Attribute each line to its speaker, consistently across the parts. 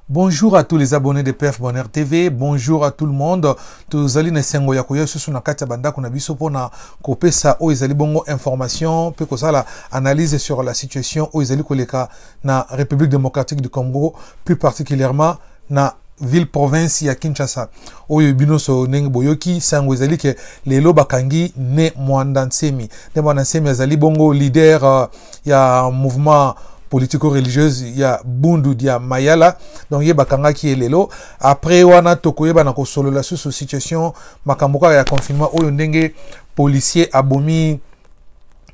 Speaker 1: Bonjour à tous les abonnés de PF Bonheur TV. Bonjour à tout le monde. Tozali na sengo ya koya susu na kati ya bandako na biso pona kopesa oyo ezali bongo information pe kosala analyse sur la situation oyo ezali koleka na République démocratique du Congo, plus particulièrement na ville province ya kinshasa oyo bino so ndenge boyoki sango ezali ke lelo bakangi ne mwanda nsemi ne mwanda nsemi azali bongo leader uh, ya mouvement politico-religieuse ya Bundu dia Mayala donc ye bakangaki ye lelo après wana tokoyeba na kosolola susu situation makambo kaka ya confinement oyo ndenge policier abomi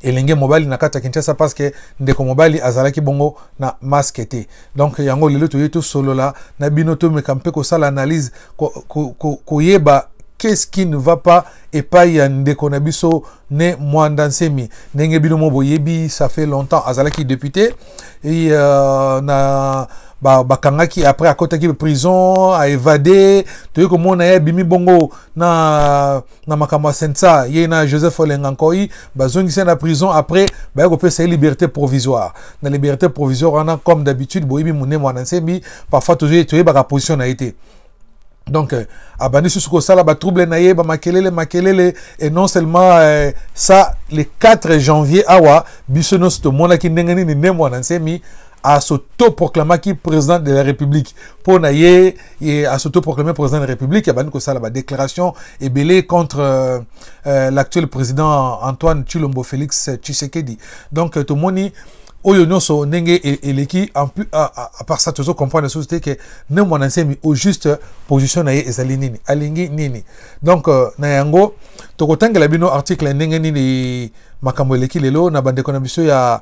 Speaker 1: elenge mobali na kati ya kinshasa parceke ndeko mobali azalaki bongo na maske te donk yango lelo toyei tosolola na bino tomeka mpe kosala analyse koyeba ko, ko, ko qu'est-ce qui ne va pas epai ya ndeko na biso ne mwanda nsemi ndenge bino mo boyebi ça fait longtemps azalaki député et euh, na bakangaki ba après akotaki prison aevade toyei komona ye abimi bongo na na makambo ya sensa ye na joseph olenga nkoi bazongisi na prison après baye kopesa ye liberté provisoire na liberté provisoire wana comme d'habitude boyebi monene mwana nsembi parfois toyebaka position na ye te donc euh, abandi susu kosala batrouble na ye bamakelele makelele et non seulement euh, ça le 4 janvier awa biso nyonso tomonaki ndenge nini nde mwana nsemi asotoproclamaki président de la république mpo na ye ye asotoproclame président de la république abandi kosala badéclaration ebele contre euh, euh, l'actuel président antoine chilombo félix tshisekedi donc euh, tomoni oyo nyonso ndenge e-, eleki apart ça tozo comprendre lisusu te ke ne mwana nsemi au juste position na ye ezali nini alingi nini donc euh, na yango tokotangela bino article ndenge nini makambo eleki lelo na bandeko na biso ya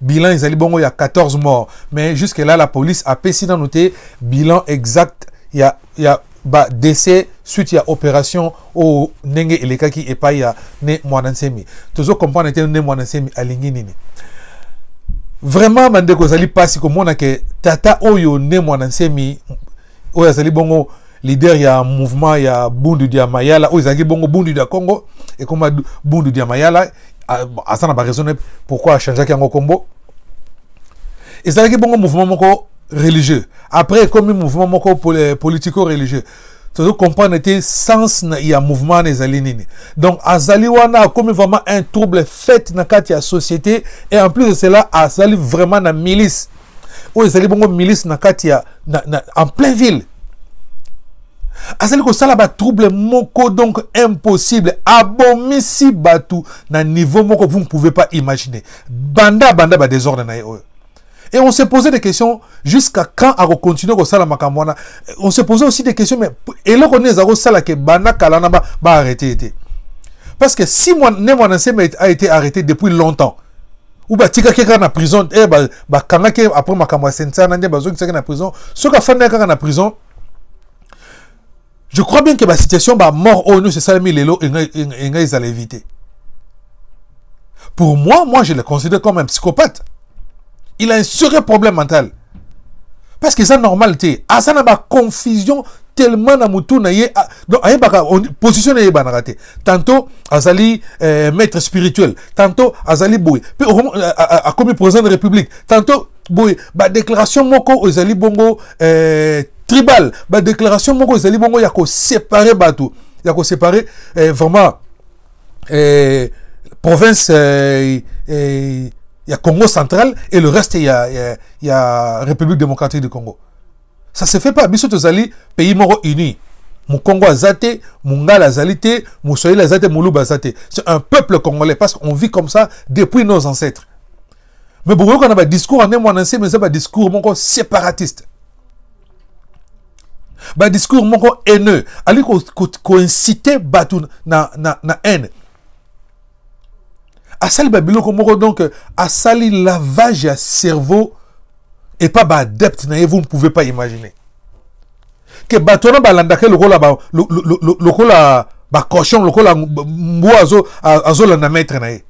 Speaker 1: bilan ezali bongo ya 14 morts mais jusque là la police apesi nanu te bilan exact ya, ya ba décès suite ya opération oyo ndenge elekaki epai ya ne mwana nsemi tozo comprendre te ne mwana nsemi alingi nini vraiment bandeko ezali mpasi komona ke tata oyo ne mwana nsemi oyo azali bongo leader ya mouvement ya bundu dia mayala oyo ezalaki bongo bundu dia congo ekoma bundu dia mayala aza na baraison ne pourquoi achangeaki yango nkombo ezalaki bongo mouvement moko religieux après ekomi mouvement moko eh, politico religieux tozo comprendre te sens na ya mouvement wana ezali nini donc azali wana akomi vraiment un trouble fait na kati ya société et en plus de cela azali vraiment na milice oyo ezali bongo milice na kati ya na, na, en plein ville azali kosala batrouble moko donc impossible abomisi bato na niveau moko vous ne pouvez pas imaginer banda banda badésordre na ye oyo et on se posait des questions jusqu'à quand akocontinue kosala makambo wana on se posait aussi des questions mais eloko nini eza kosala ke banda kala na baarrete ba ye te parce que si ne mwana nsema a été arrêté depuis longtemps ou batikaki kaka na prison eh, bakangaki ba après makambo ya sensana nde bazongisaki na prison soki afandaki kaka na prison je crois bien que basituation bamort oyo nyonso esalemi lelo enga ezala évité pour moi moi je le considère comme un psychopathe il a un sérieux problème mental parce que eza normal te aza na baconfusion tellement na motu na ye donc ayebaka position na ye eyebanaka te tantôt azali euh, maître spirituel tantôt azali boye mpe akomi président de république tantôt boye badéclaration moko oyo ezali bongo euh, tribal badéclaration moko ezali bongo ya koséparer bato ya koséparer euh, vraiment eh, province eh, eh, ya Congo central et le reste ya, ya, ya République démocratique du Congo. Ça se fait pas. Biso tozali pays moko uni. Mukongo azate, Mungala azalite, Moussoïl azate, Moulouba azate. C'est un peuple congolais parce qu'on vit comme ça depuis nos ancêtres. me bokoyoka na badiscours ane mwana nsemi eza badiscours moko séparatiste badiscours moko haineux ali koincite ko, ko bato na, na, na haine asali babiloko moko donc asali lavage ya cerveau epa baadepte na ye vous ne pouvez pas imaginer ke bato wana balandaka ye lokola ba, lo, lo, lo, lokola bacochon lokola mbwa azolanda azo maître na ye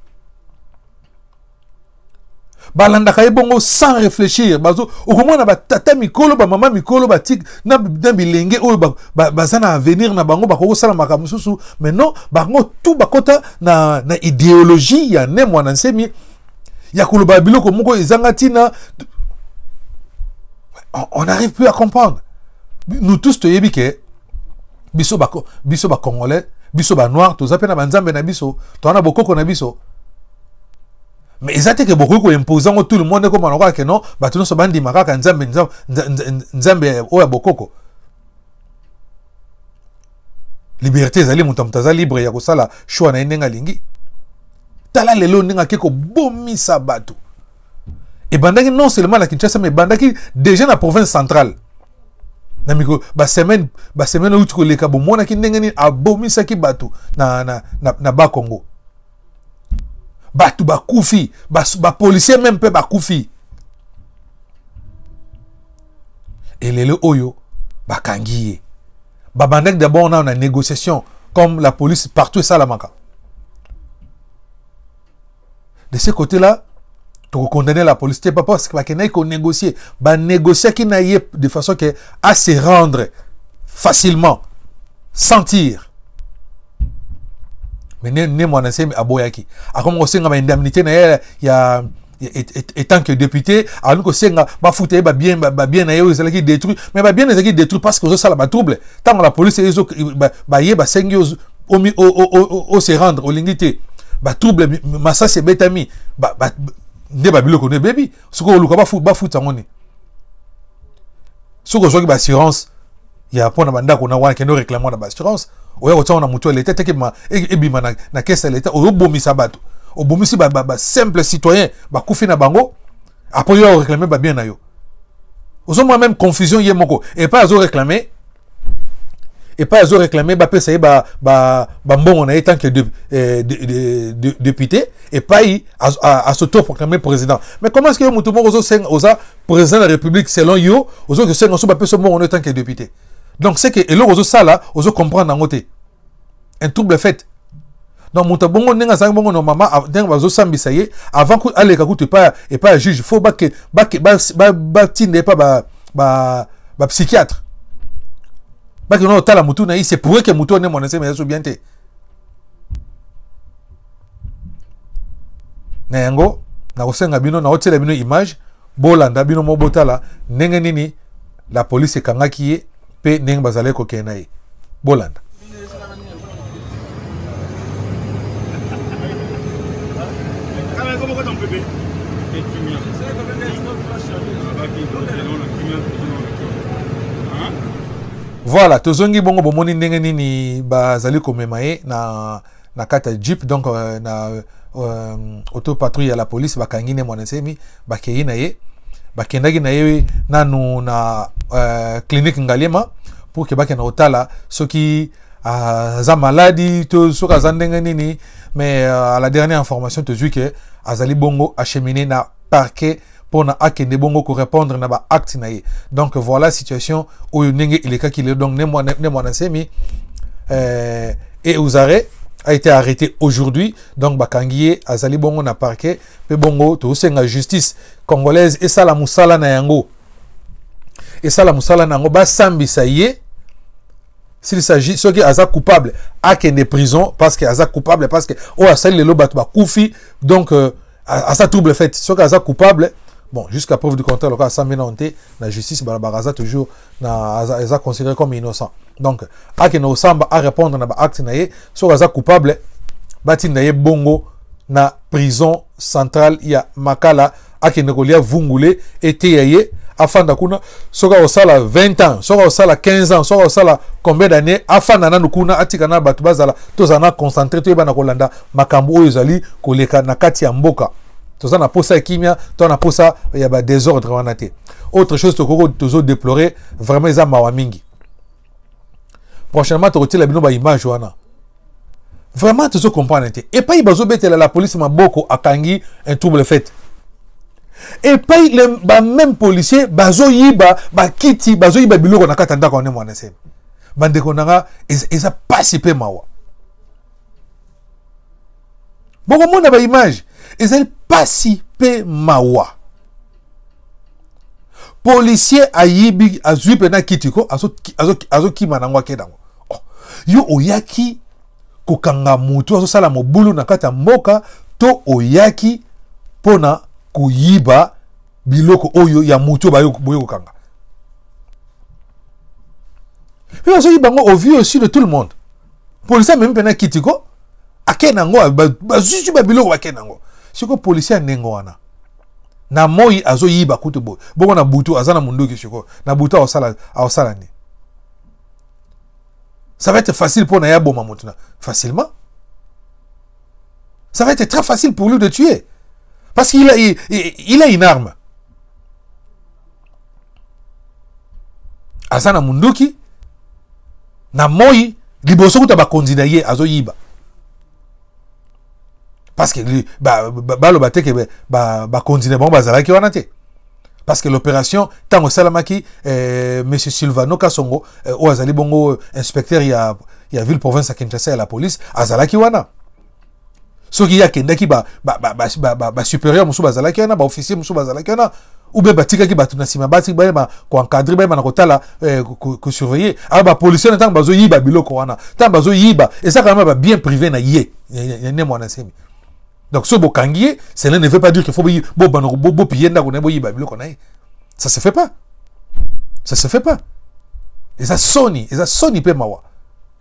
Speaker 1: balandaka ye bongo sans réfléchir bazo okomona batata mikolo bamama mikolo batik na, na bilenge oyo baza ba, ba, na avenir na bango bakoki kosala makambo mosusu mais non bango tout bakota na, na idéologie ya ne mwana nsemi ya koloba biloko moko ezanga ntina on n'arrive plus à comprendre nous tous toyebi ke biso bako biso ba congolais biso ba noir toza pe na banzambe na biso toza na bokoko na biso mais eza te ke bokoki koimpose yango tout le monde ekoma lokola ke non bato nyonso bandima kaka nzambe nzambe oyo ya bokoko liberté ezali moto ya moto aza libre ya kosala choix na ye ndenge alingi tala lelo ndenge ake kobomisa bato ebandaki non seulement na kinshasa mais ebandaki déjà na province centrale na mikolo basemaine basemaine euti koleka bomonaki ndenge nini abomisaki bato na, na, na, na bakongo bato bakufi bapolisier ba meme mpe bakufi elele oyo bakangi ye babandaki d'abord nao na négociation comme la police partout esalamaka de ce côté là tokokondamne la police te papa parce que bakendaki konégocier banégociaki na ye de façon que à se rendre facilement sans tir mais ne, ne mwana nsemi aboyaki akomi kosenga ba indemnité na ye ya étant que député akomi kosenga bafuta ye babien babien na ye oyo ezalaki détruit mais babien ezalaki détruit parce que ozosala batrouble ntango la police ezo baye basengi ose rendre olingi te batrouble masasi ebetami nde babiloko no ebebi soki oluka bafuta yango nini soki ozwaki baassurance ya mpo na bandako na wana kende oreklame wana baassurance oya kotia na motu ya leta teke e, ebima na, na kese ya leta oyobomisa bato obomisi basimple ba, ba citoyen bakufi na bango apres yo oreklame babien na yo ozomona meme confusion ye moko epai azoreklame epai azo réclame bapesa ye bambongo na ye tant que de, eh, de, de, de, député epai asotoproclame président mais comment est ce que yo moto moko ozosenga oza président de la république selon yo ozoki kosenga so bapesa mbongo na yo tant que député donc c'est que eloko ozosala ozo comprendre yango te un trouble fete donc moto ya bongo ndenge azangi bongo normalement ndenge bazosambisa ye avant aleka kutu epai epai ya juge fo batinda epai bapsychiatre bakende otala motu na ye se pourrait ke motu one mwana nsema ya so bien te na yango nakosenga bino naotiela bino image bolanda bino mo botala ndenge nini la police ekangaki ye mpe ndenge bazalaki kokende na ye bolanda voilà tozongi bongo bomoni ndenge nini bazali komema ye na na kati ya jeep donc euh, na euh, auto patrouille ya la police bakangi ne mwana nsemi bakei na ye bakendaki na ye nanu na euh, clinique ngaliema pour ke bakenda kotala soki aza uh, maladi to soki aza ndenge nini mais uh, à la dernière information tozwi ke azali bongo achemine na parquet pona akende bongo ko répondre na ba acte na ye donc voilà situation oyo ndenge elekaki lelo donc ne mwana nsemi euh, et uzare a été arrêté aujourd'hui donc bakangi ye azali bongo na parquet mpe bongo tosenga justice congolaise esala mosala na yango esala mosala na yango basambisa ye s'il s'agit soki aza coupable akende prison parce que aza coupable parce que oyo asali lelo bato bakufi donc euh, aza trouble fait soki aza coupable bon jusqu'à preuve du contraire lokola asambi nano te na justice balobaka aza toujours na aza considéré comme innocent donc akende kosamba arépondre na baacte na ye soki aza coupable batinda ye bongo na prison centrale ya makala akende kolia vungule eteya ye afanda kuna soki akosala 20 ans soki akosala 15 ans soki akosala combien d'année afanda nanu kuna atika na bato bazala tozala na concentré toyeba na kolanda makambo oyo ezali koleka na kati ya mboka toza na posa ya kimia to na posa ya ba desordre wana te autre chose tokoko tozo déplorer vraiment eza mawa mingi prochainement tokotiela bino ba image wana vraiment tozo comprendre te epai bazobetela la police maboko akangi un trouble fait epai bameme policier bazoyiba bakiti bazoyiba biloko na kati ya ndako wane mwana sebe bandeko na nga eza mpasi mpe mawa bokomona baimage ezali mpasi mpe mawa policier ayibi azwi mpe na kiti ko azokima nango ake nango oh, yo oyaki kokanga motu azosala mobulu na kati ya mboka to oyaki mpo na koyiba biloko oyo ya moto oyo boye kokanga mpe bazoki bango au vu aussi de tout le monde polisi amemi mpena kiti ko ake na yango bazuzi babiloko bake na yango sikoyo polisi ya ndenge wana na moi azoyiba kutu boye bongo na butu aza na monduki sikoyo na butu aosala aosala nini ça va être facile mpo na ye aboma moto na facilement Ça va être très facile pour lui de tuer. Parce qu'il a, il, il a une arme. aza na munduki na moi liboso kuta bakonzi na ye azoyiba parce que baloba ba, ba, ba te ke bakonzi ba, ba na bango bazalaki wana te parce que l'opération ntango esalamaki eh, monsieur sylvano kasongo eh, oyo azali bongo inspecteur ya, ya ville province ya kinshasa ya la police azalaki wana soki ye akendaki basupérieur mosusu bazalaki wana baofficier mosusu bazalaki wana oubien batikaki bato na nsima bati bayeba koencadre bayeba na kotala eh, kosurveille alors bapolicier na ntango bazoyiba biloko wana ntango bazoyiba eza kama babien privé na ye ne mwana nsemi donc soki bokangi ye cela ne veut pas dire qu'il faut bobanda bopiye ndako na ye boyiba biloko na ye ça se fait pas ça se fait pas eza soni eza soni mpe mawa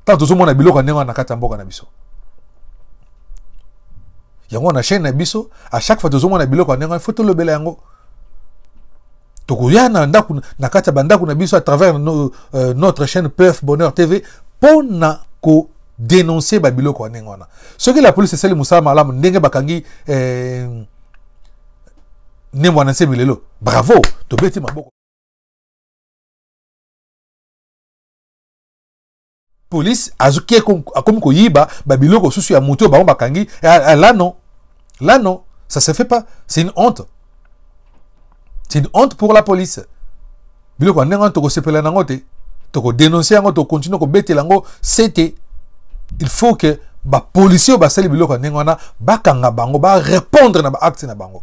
Speaker 1: ntango tozomona biloko ya ndenge wana na kati ya mboka na biso yango na chaîne na biso à chaque fois tozomona biloko ya ndenge wana fo tolobela yango tokoya na ndako na kati ya bandako na biso à travers no, euh, notre chaîne pf bonheur tv mpo na ko dénoncer babiloko ya ndenge wana soki la police esali mosala malamu ndenge bakangi eh, nembo na nse milelo bravo tobeti maboko police azoki akomi koyiba babiloko mosusu ya moto oyo bango bakangi eh, eh, là non là non ça se fait pas c'est une honte c'est une honte pour la police biloko ya ndenge wana tokosepela nango te tokodénonce yango tokontinue kobetela yango sete il faut que bapolisier oyo basali biloko ya ndenge wana bakanga bango barépondre na baacte na bango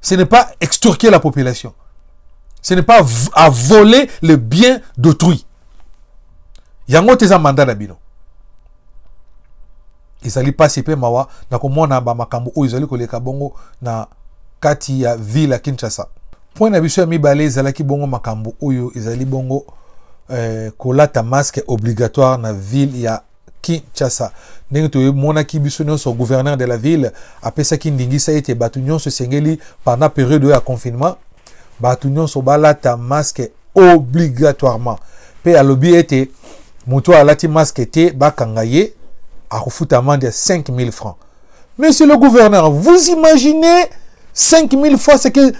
Speaker 1: ce n'est pas extorquer la population ce n'est pas à voler le bien d'autrui yango te eza mandat na bino ezali mpasi mpe mawa na komona bamakambo oyo ezali koleka bongo na kati ya ville ya kinshasa point na biso ya mibale ezalaki bongo makambo oyo ezali bongo eh, kolata masque obligatoire na ville ya Kinshasa. ndenge tomonaki biso nyonso gouverneur de la ville apesaki ndingisa ete bato nyonso esengeli pendant periode oyo ya confinement bato nyonso balata masque obligatoirement mpe alobi ete moto oyo alati masque te bakanga ye akofuta amande ya 5000 francs monsieur le gouverneur vous imaginez 5000 fois ce que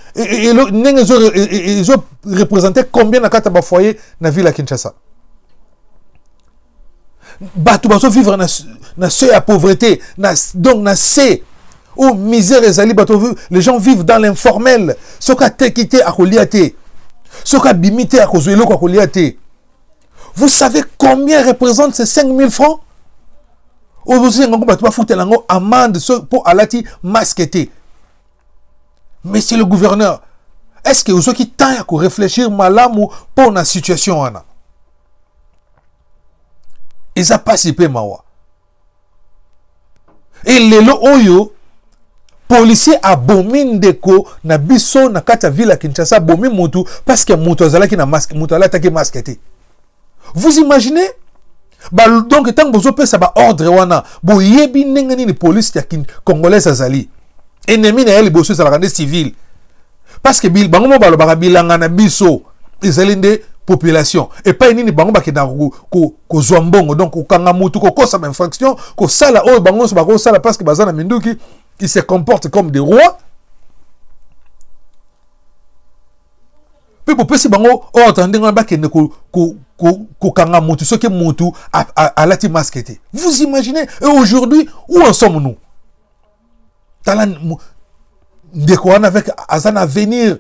Speaker 1: ndenge ezo représente combien na kati ya bafoyer na ville ya kinshasa bato bazo vivre na, na se ya pauvreté na, donc na se oyo misère ezali bato les gens vivent dans l'informel soki ateki te akolia te soki abimi te akozwa eloko akolia te vous savez combien représente ces 5000 francs oyo bozosenga yango bato bafutela yango amande mpo alati masque te monsieur le gouverneur est ce que ozwaki temps ya korefléchir malamu mpo na situation wana eza mpasi mpe mawa e lelo oyo policier abomi ndeko na biso na kati ya ville ya kinshasa abomi motu parce que moto azalaki na masque moto alataki masque te vous imaginez ba, donc ntango bozopesa baordre wana boyebi ndenge nini polise ya congolaise azali ennemi na ye liboso ezalaka nde civile parce que bango mo balobaka bilanga na biso ezali nde population epai nini bango bakendaka kozwa mbongo donc kokanga mutu kokosa bainfraction kosala oyo bango nyonso bakosala parce que baza na minduki ils se comportent comme des rois mpe bopesi bango ordre ndenge wana bakende kokanga mutu soki mutu alati masque te vous imaginez et aujourd'hui où en sommes nous tala ndeko wana avec aza na avenir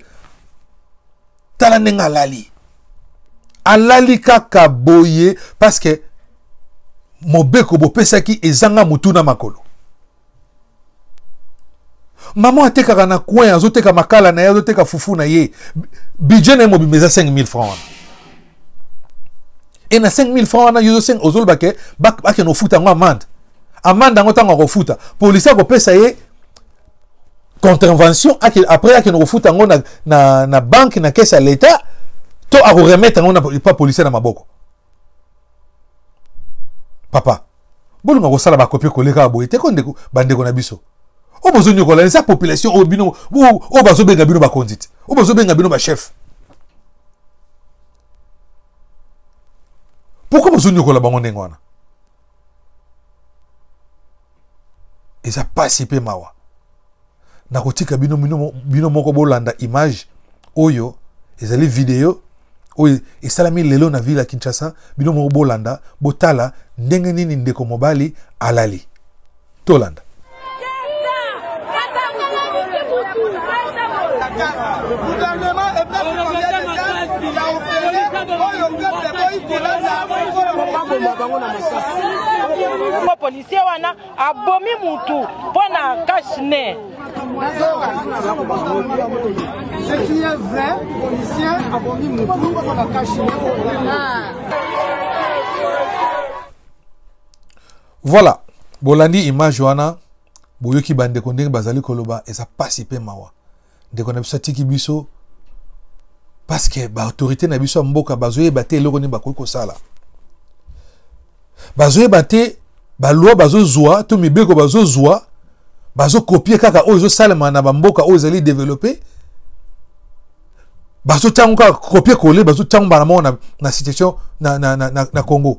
Speaker 1: tala ndenge alali alali kaka boye parce que mobeko bopesaki ezanga motu na makolo mama atekaka na coin azoteka makala na ye azoteka fufu na ye budget na ye mobimba eza 5000 franc wana e na 5000 franc wana yo ozoloba ke bakende ofuta yango amande amande yango ntango akofuta polisi akopesa ye contravention après akende kofuta yango na, na, na banke na kese ya leta to akoremetre yango na pa policier na maboko papa bolunga kosala bakopi koleka boye te ko ndeko bandeko na biso oyo bozonyokola eza population oyo bino oyo bazobenga bino bakonzi te oyo bazobenga bino bachef pourkui bozonyokola bango ndenge wana eza mpasi mpe mawa nakotika bino, bino, bino moko bolanda image oyo ezali video oyo esalami lelo na ville ya kinshasa bino moko bolanda botala ndenge nini ndeko mobali alali tolanda
Speaker 2: policier wana abomi mutu mpo na cash ne
Speaker 1: voilà bolandi image wana boyoki bandeko ndenge bazali koloba eza pasi mpe mawa ndeko na biso atiki biso parce que ba autorité na biso ya mboka bazoyeba te eloko nini bakoki kosala bazoyeba te baloi bazozwa to mibeko bazozwa bazokopie kaka oyo ezosalema na bamboka oyo ezali developpe bazotango kaka kopie kole bazotango mbala moko na, na situation na, na, na, na, na congo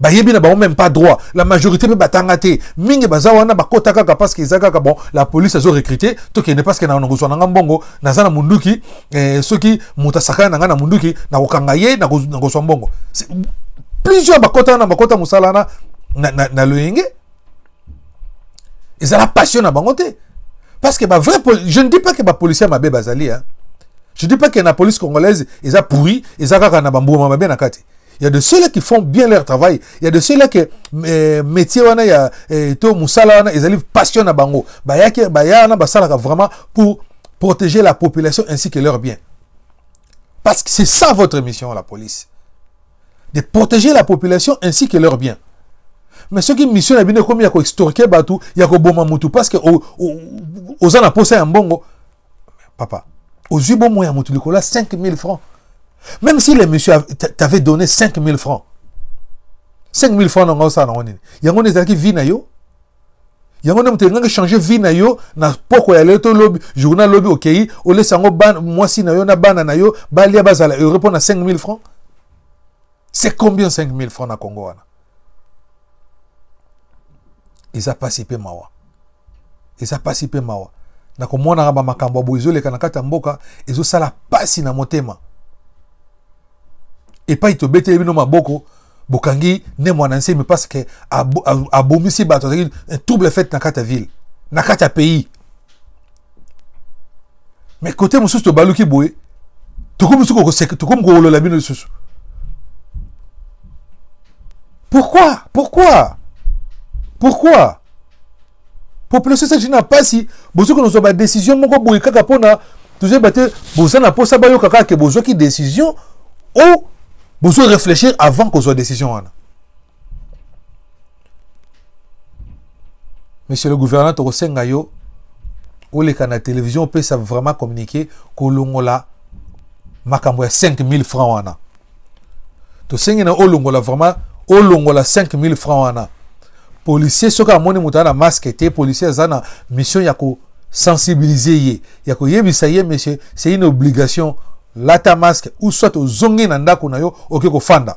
Speaker 1: bayebi na bango même pas droit la majorité mpe batanga te mingi baza wana bakota kaka parce que eza kaka bon la police azo recrute tokende parce que na nakozwa na nga mbongo naza na munduki eh, soki moto asakana na nga na munduki nakokanga ye nakozwa mbongo plusieurs bakota na bakota mosala wana na, na, na loyenge ezala passion na bango te parce que ba vrai je ne dis pas que ba policier mabe bazali hein je dis pas que na police congolaise eza pourri eza kaka na bambuma mabe na kati Il y a de ceux-là qui font bien leur travail. Il y a de ceux-là qui euh, métier wana ya euh, to musala wana ezali passion na bango. Ba ya ke ba ya na basala vraiment pour protéger la population ainsi que leurs biens. Parce que c'est ça votre mission la police. De protéger la population ainsi que leurs biens. Mais ce qui mission na bino comme ya ko extorquer batu, ya ko boma mutu parce que aux en a posa ya mbongo. papa ozwi bomoi ya moto likolo ya 5000 francs même si le monsieur t'avait donné 5000 francs 5000 francs nanga osala nango nini yango nde ezalaki vie na yo yango nde moto elingaki change vie na yo na poko ya lelo to lobi journal lobi okei olesa yango mwasi na yo na bana na yo balia bazala heureux mpo na 5000 francs c'est combien 5000 francs na congo wana eza pasi mpe mawa eza pasi mpe mawa na komonaka bamakambo ya boye ezoleka na kati ya mboka ezosala pasi na motema epai tobeteli bino maboko bokangi ne mwana nsemi parce que abomisi bato azalaki trouble fete na kati ya ville na kati ya pays me kote mosusu tobaluki boye tokomi mosusu kokoseka tokomi kowolola bino lisusu pourquoi pourquoi pourquoi population esaki na mpasi bozoki nozwa badécision moko boye kaka mpona tozoyeba te boza na mposa bayoka kaka ke bozwaki décision o bozo réfléchir avant kozwa décision wana monsieur le gouverneur tokosenga yo oleka na télévision opesa vraiment communiqué kolongola makambo ya 5000 francs wana tosengi na olongola vraiment olongola 5000 francs wana policier soki amoni moto aza na masque te policier aza na mission ya kosensibiliser ye ya koyebisa ye monsieur c'est une obligation lata masque ou soit ozongi na ndako na yo oke kofanda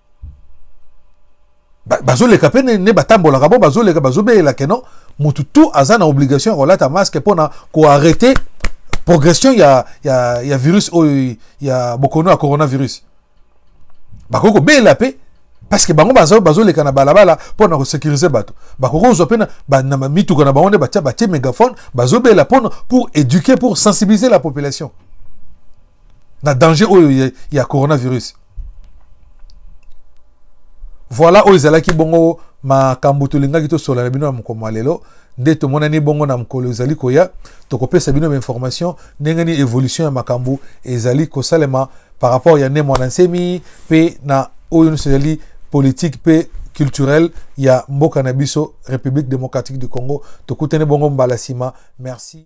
Speaker 1: bazoleka mpe ne batambolaka bo bazoleka bazobelela ke non motu tu aza na obligation ya kolata masque mpo na koarrete progression ya, ya, ya virus oyo ya bokono ya coronavirus bakoki kobelela mpe parce que bango bazoleka na balabala mpo na kosecurise bato bakoki kozwa mpe na mituka na bango nde batie megaphone bazobela mpo pour éduquer pour sensibiliser la population na danger oyo ya, ya coronavirus voilà oyo ezalaki bongo makambo tolingaki tosola na bino na mokolo mwa lelo nde tomonani bongo na mokolo ezali koya tokopesa bino bainformation ndenge nini évolution ya makambo ezali kosalema par rapport ya nde mwana nsemi mpe na oyo nyonso ezali politike mpe culturel ya mboka na biso république démocratique du congo tokutani bongo mbala nsima merci